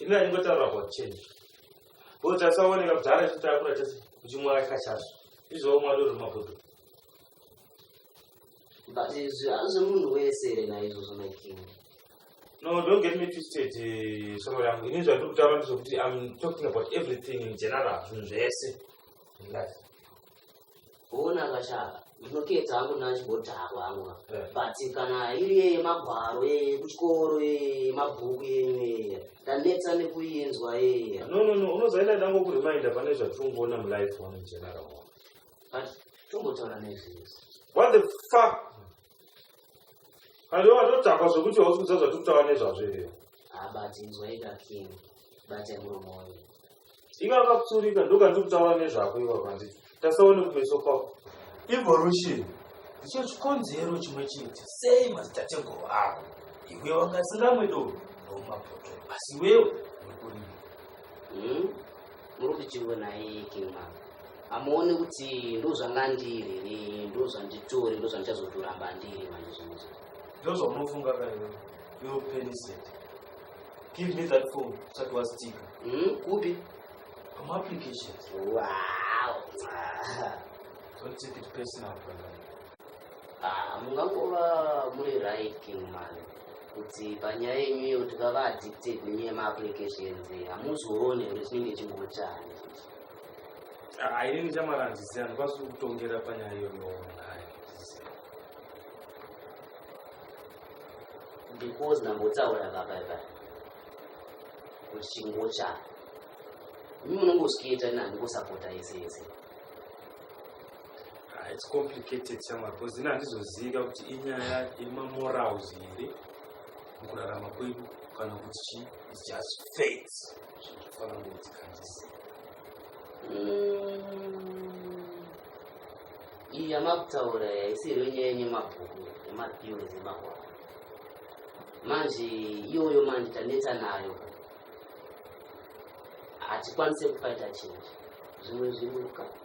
ini aningotaura about change ko tasaoneka kudhara chitakura chese uchimwaka kachazvo izvoo mwari uri mabudu but izvi hazvi munhu wese here naizvozvo making no don't get me twisted eh, shamwari yangu ini zvandiri kutaura ndizvokuti im talking about everything in general zvinhu zvese in life kuona kashaka ndinoketa hangu nachibotako hangu eh. but kana iri yeye magwaro yeye kuchikoro yeye mabhuku yenyu yeye ndanetsa nekuinzwa yeye no no no unozaenda ndango kurimainda pane zvatirikuona mulife one general but tombotaura nezvese what the fuck Halo, watodhakwa zvekuti hausi kuziva zvatiri kutaura nezvazvo here? Ah, but inzwaika King, bata muromo wangu. Iwe akapsurika ndokandiri kutaura nezvako iwe kwanditi. Tasaone kumeso kwako. Evolution ndicho chikonzero chimwe chete sei madzitateguru ako iwe wangasingamwe doro ndomapoto asi iwewo nekurima Hmm? Muri kuti chiwe naye King Mama. Amuone kuti ndozvanga ndiri here ndozvanditori ndozvandichazotoramba ndiri manje zvinhu izvi. Ndozvaunofunga ka iwe. Iwe peniseti. Give me that phone usati wasitika. Hmm? Kupi? Pama applications. Wow. Don't take it personal brother. Ah, mungangova muri right king man kuti panyaya yenyu iyo kuti vava addicted nenyaya maapplications hamuzoone kuti chinenge chingotani ah, inini chamara hanzisi handikwanisi kutongera panyaya iyoyo because ndambotaura papaipa kuti chingochani imi munongoskiita nani kusapota yese yese Ah, it's complicated shamwari because ini handizozivika kuti inyaya yemamorals here mukurarama kwedu kana kuti chii its just fates zvinofanira ngokuti kandisi Mm. iyi yamakutaura haisi here nyaya yenyemabhuku yematheory dzemahwara manje iyoyo manje tanetsa nayo hatikwanise kufaita chinhu zvimwe zvimuka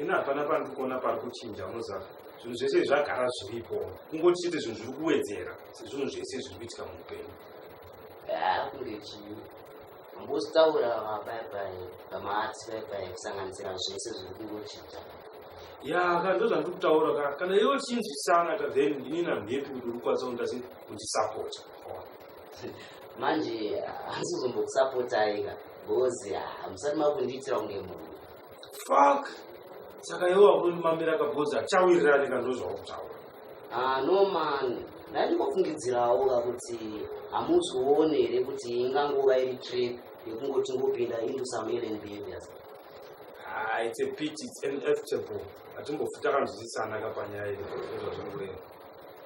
ini hapana pandiri kuona pari kuchinja unoziva zvinhu zvese zvagara zviripo kungoti chete zvinhu zviri kuwedzera sezvinhu zvese zviri kuitika muupenyu kunge chii mbostaura vabaibai vamaarts baibai kusanganisira zvese zviri kungochinja ya ka ndo zvandiri kutaura ka kana iwe uchinzwisana ka then ini namhepi kuti uri kukwanisa kundasi kundisapota manje hanzi uzombokusapotai ka bhozi hamusati makundiitira kunge munhu Fuck. Saka iwe wakunimamira kabhozi achawirira rika ndozvakutaura. Ah no man. Ndandingofungidzirawo kuti hamuzoone here kuti ingangova iri trip yekungoti ngopinda into some alien behaviors. Ah, it's a pity, it's inevitable. Hatimbofuta kanzwisisana kapanyaya iyi.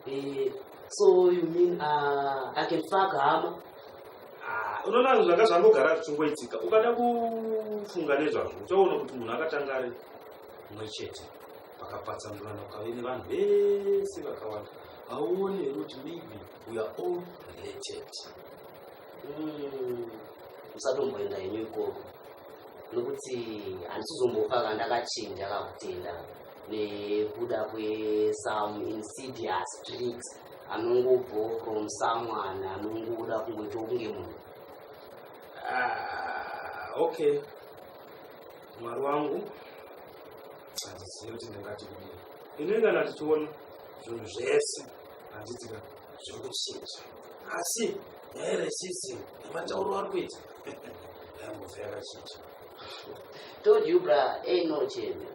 Eh, so you mean uh, I can fuck hama? Ah, unoona zvanga zvangogara zvichingoitika ukada kufunga nezvazvo uchaona kuti munhu akatanga ari mumwe chete pakapatsanurana ukave nevanhu vese vakawanda hauone here kuti maybe we are all related hmm, usatomboenda henyu ikoko nokuti handisizombofa kandakachinja kakutenda nekuda kwesome insidious tricks anongobvo from someone anongoda kungoita kunge munhu ah, okay mwari wangu handizivi kuti ndingati kudii inoingana tichiona zvinhu zvese handitika zviri kuchinja asi nyaya resism nematauro ari kuita yambove yakachinja told you bra ainochenza eh,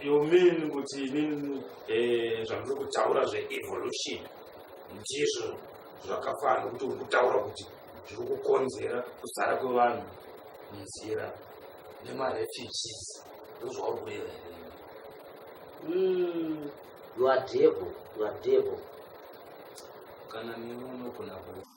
You mean kuti inini eh, zvamuri kutaura zveevolution ndizvo zvakafana nokuti uri kutaura kuti zviri kukonzera kuzara kwevanhu munzira nemarefugees ndozvauri kureva here hmm, you are devil you are devil kana nemi unogona ku